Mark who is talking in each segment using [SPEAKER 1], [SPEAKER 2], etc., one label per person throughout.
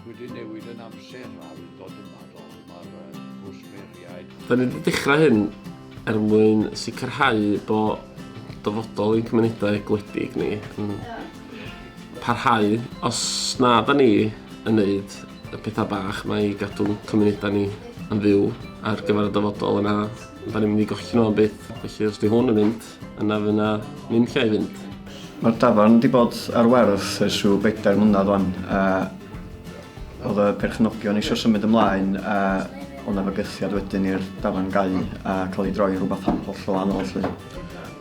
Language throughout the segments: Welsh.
[SPEAKER 1] wedi newid yn amser a wy'n dod yma dod mae'r gwsmeriaid. Yn y dechrau
[SPEAKER 2] hyn, er mwyn sicrhau bod dyfodol ein cymunedau gwledig ni yn parhau os na da ni yn neud y pethau bach mae i gadw'n cymunedau ni yn fyw ar gyfer y dyfodol yna da ni'n mynd i golli nhw am byth felly os di hwn yn mynd yna fy na ni'n lle i fynd. Mae'r dafarn
[SPEAKER 3] wedi bod ar werth ers rhyw bedair mlynedd wan a Oedd y perchnogion eisiau symud ymlaen a oedd yna fygythiad wedyn i'r dafarn gau a cael ei droi rhywbeth holl o wahanol lly.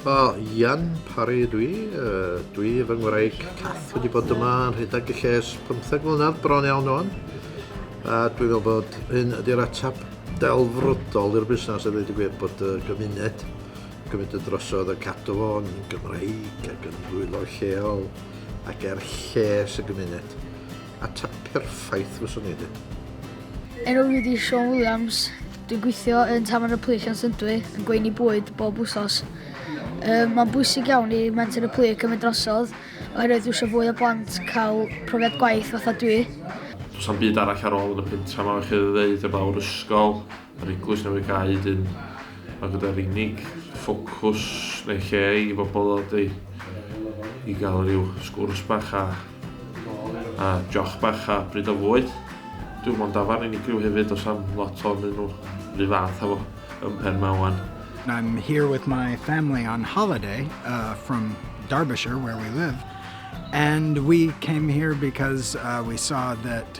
[SPEAKER 3] O, Ian
[SPEAKER 4] Parry ydw i. Uh, dwi fy ngwraig Cath wedi bod yma yn rhedeg y lles 15 mlynedd bron iawn o'n. A dwi'n meddwl bod hyn ydy'r atap delfrydol i'r busnes a ddweud y gwir bod y gymuned gymryd y drosodd y cadw fo'n Gymraeg ac yn rhwylo lleol ac er lles y gymuned. Ateb perffaith fyswn i di. Enw
[SPEAKER 5] fi di Sean Williams. Dwi'n gweithio yn Tafarn y Plic yn Llyndwy, yn gweini bwyd bob wsos. Um, Mae'n bwysig iawn i Menter y Plic cymryd drosodd, oherwydd dwi eisiau fwy o blant cael profiad gwaith fatha dwi. Does am byd
[SPEAKER 6] arall ar ôl yn y pentra yma, chi ddweud, y fawr ysgol. Yr Eglwys Newydd Cae hyd yn oed gyda'r unig ffocws neu lle i bobl ddod i, i gael rhyw sgwrs bach a, a joch bach a bryd o fwyd. Dwi'n mwyn dafarn unigryw hefyd os am lot o'n un nhw, rhyw fath efo yn pen mawan. I'm here
[SPEAKER 7] with my family on holiday uh, from Derbyshire, where we live, and we came here because uh, we saw that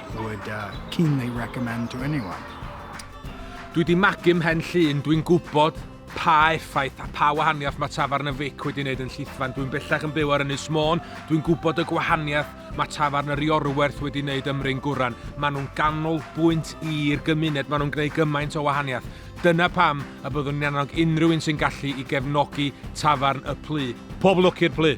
[SPEAKER 7] I would uh, keenly recommend to anyone.
[SPEAKER 8] Dwi di magu mhen llun, dwi'n gwybod pa effaith a pa wahaniaeth mae tafarn y Fic wedi wneud yn llithfan. Dwi'n bellach yn byw ar Ynys Môn, dwi'n gwybod y gwahaniaeth mae tafarn yr Iorwerth wedi wneud ym Mryn Gwran. Maen nhw'n ganol bwynt i'r gymuned, maen nhw'n gwneud gymaint o wahaniaeth. Dyna pam y byddwn ni'n annog unrhyw un sy'n gallu i gefnogi tafarn y plu. Pob lwc i'r plu!